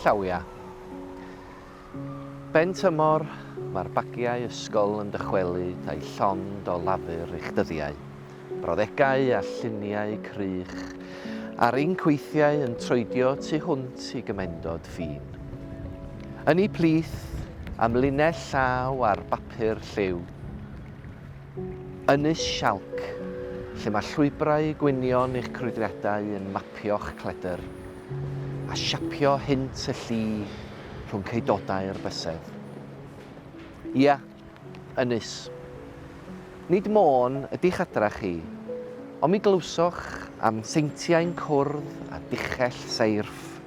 Llawia. Ben tymor, mae'r bagiau ysgol yn dychwelyd â'u llond o lafur i'ch dyddiau. Brawddegau a lluniau crych a'r inc weithiau yn troedio tu hwnt i gymendod ffin. Ynni plith am linell llaw ar bapur lliw. Ynys Sialc, lle mae llwybrau gwynion eich crwydriadau yn mapio'ch cledr, a siapio hynt y lli rhwng ceudodau'r bysedd. Ia, ynys. Nid môn ydi'ch adra chi, ond mi glywsoch am seintiau'n cwrdd â duchell seirff,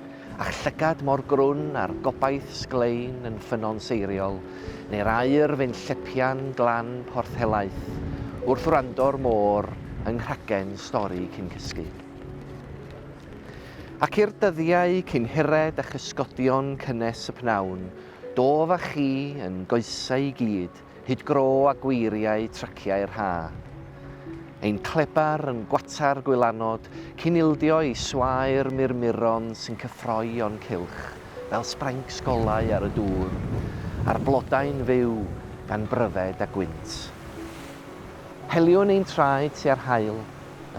A'ch llygad mor grwn a'r gobaith sglein yn ffynnon seiriol, neu'r aer fyn llepian glan porth helaeth, wrth wrando'r môr yng nghragen stori cyn cysgu. Ac i'r dyddiau cyn hired a chysgodion cynnes y p'nawn, dof â chi yn goesau i gyd, Hyd gro a gweiriau traciau'r ha. Ein clebar yn gwatar gwylanod cyn ildio i swae'r murmuron sy'n cyffroi o'n cylch fel sbraincs golau ar y dŵr, a'r blodau'n fyw gan bryfed a gwynt. Heliwn ein traed tua'r haul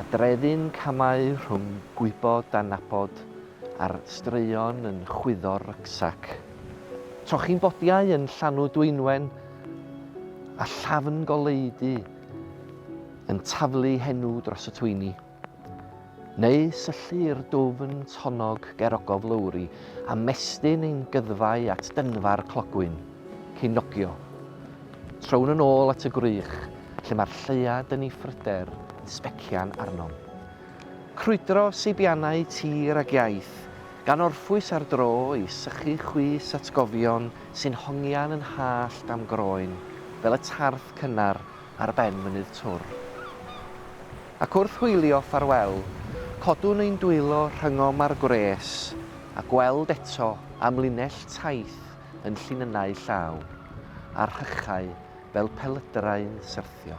a drefu'n camau rhwng gwybod a nabod a'r straeon yn chwyddo'r rucksack. Trochi'n bodiau yn llanw dwynwen a llafn goleudy yn taflu henw dros y twyni. Neu syllu'r dwfn tonnog ger ogof lowri a mestyn ein gyddfau at dynfa'r clogwyn, cyn nogio. Trown yn ôl at y gwrych lle mae'r lleuad yn ei phryder yn sbecian arnom. Crwydro seibiannau tir ag iaith, gan orffwys ar dro i sychu chwys atgofion sy'n hongian yn hallt a'm groen fel y tarth cynnar ar ben mynydd Twr. Ac wrth hwylio ffarwel, codwn ein dwylo rhyngom â'r gwres, a gweld eto amlinell taith yn llinynnau llaw, a rhychau fel pelydrau'n syrthio.